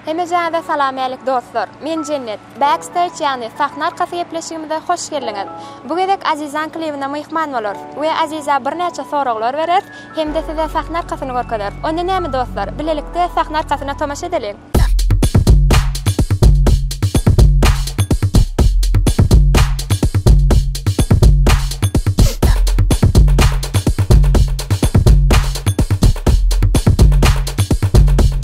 Hemejäňize salam-älik dostlar! Men Jennet. Backstage ýagny sahna arkasy gepleşigimize hoş geldiňiz! Bu gezek Azizaň klibine myhman bolarys we Aziza birnäçe soraglar bereris hem-de size sahna arkasyny görkezeris. Onda näme dostlar, bilelikde sahna arkasyna tomaşa edeliň!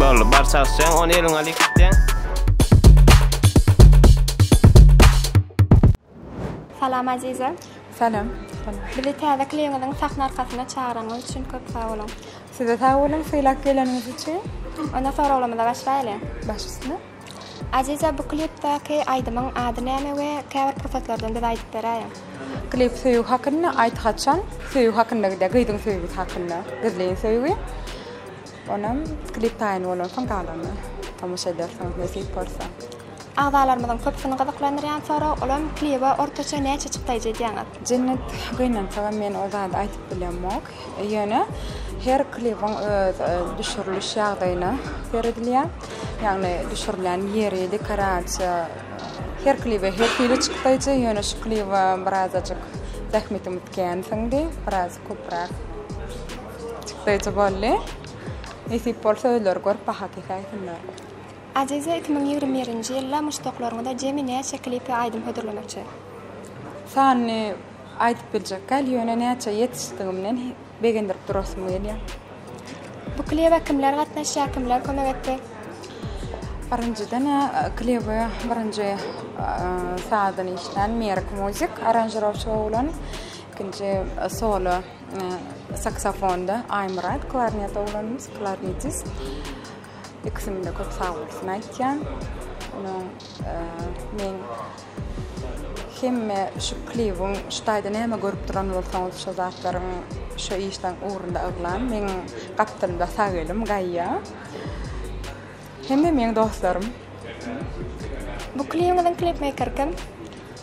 Boldy bar çalyşýaň ony eliňe alyp gitýäň. Salam Aziza. Salam. Bizi täze klibiňiziň sahna arkasyna çagyranyňyz üçin köp sag boluň. Size sag boluň sylap geleniňiz üçin. Onda soraglarymyza başlaýly. Baş üstüne. Aziza bu klipdäki aýdymyň ady näme we käbir pursatlardan bize aýdyp beräýiň. Klip söýgi hakynda aýt haçan söýgi hakynda gidýär gyzyň söýgüsi hakynda gizlin söýgi. Onam klip taýyn bolansoň galanyna tomaşa edersiňiz nesip bolsa. Agzalarymyzyň köpüsini gyzyklandyrýan sorag, olam klibe ortaça näçe çykdaýjy edýäňiz? Jennet gynansagam men o zady aýdyp bilemok. Ýöne her klibiň öz düşüriliş ýagdaýyna seredilýär. Ýagny düşürilýän ýeri, dekorasiýa her klibe her hili çykdaýjy. Ýöne şu klibe birazajyk zähmetimiz kän siňdi, biraz köpräk Çykdaýjy boldy. Nesip bolsa özleri görüp baha kesäýsinler. Aziza iki müň ýigrimi birinji ýylda muşdaklaryňyza jemi näçe klip we aýdym hödürlemekçi? Sanyny aýdyp biljekgäl, ýöne näçe ýetişdigimden begendirip durasym gelýär. Bu klibe kimler gatnaşýar, kimler kömek etdi? Birinjiden klibi birinji sazyny işlän Merk Muzik aranžirowçy oglan, ikinji solo. Saksafonda Aýmyrat, klarnet oglanymyz, klarnetis. Ikisinde köp sag bolsun aýtýan. Onuň men hemme şu klibiň şu taýda näme görüp duran bolsaňyz şu zatlaryň şu işden ugrunda yglan men gapdalymda sag elim gaýýa hemme meň dostlarym bu klibiň klipmeýker kim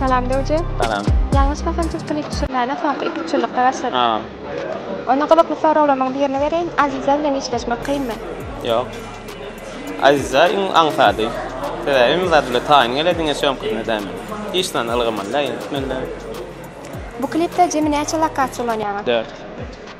Salam Döwje. Salam. Ýalňyşmasam siz klip düşürmäne soňky iki üç ýyllykda başladyňyz. Hawa. Onda gyzykly soraglarymyň birini bereýin, Aziza bilen işleşmek kynmy? Ýok. Aziza iň aňsady. Sebäbi hem zat bile taýyn gele diňe çöňküsine däme. Hiç zany ylgamaly däl, ýetmeli däl. Bu klipde jemi näçe lokasiýa ulanýaňyz? Dört.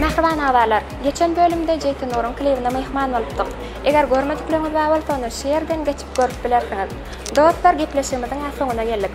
Mähriban agzalar, geçen bölümde Jeýti Nuryň klibine myhman bolupdyk. Eger görmedikleriňiz bar bolsa ony şu ýerden geçip görüp bilersiňiz. Dostlar gepleşigimiziň-ä soňuna geldik.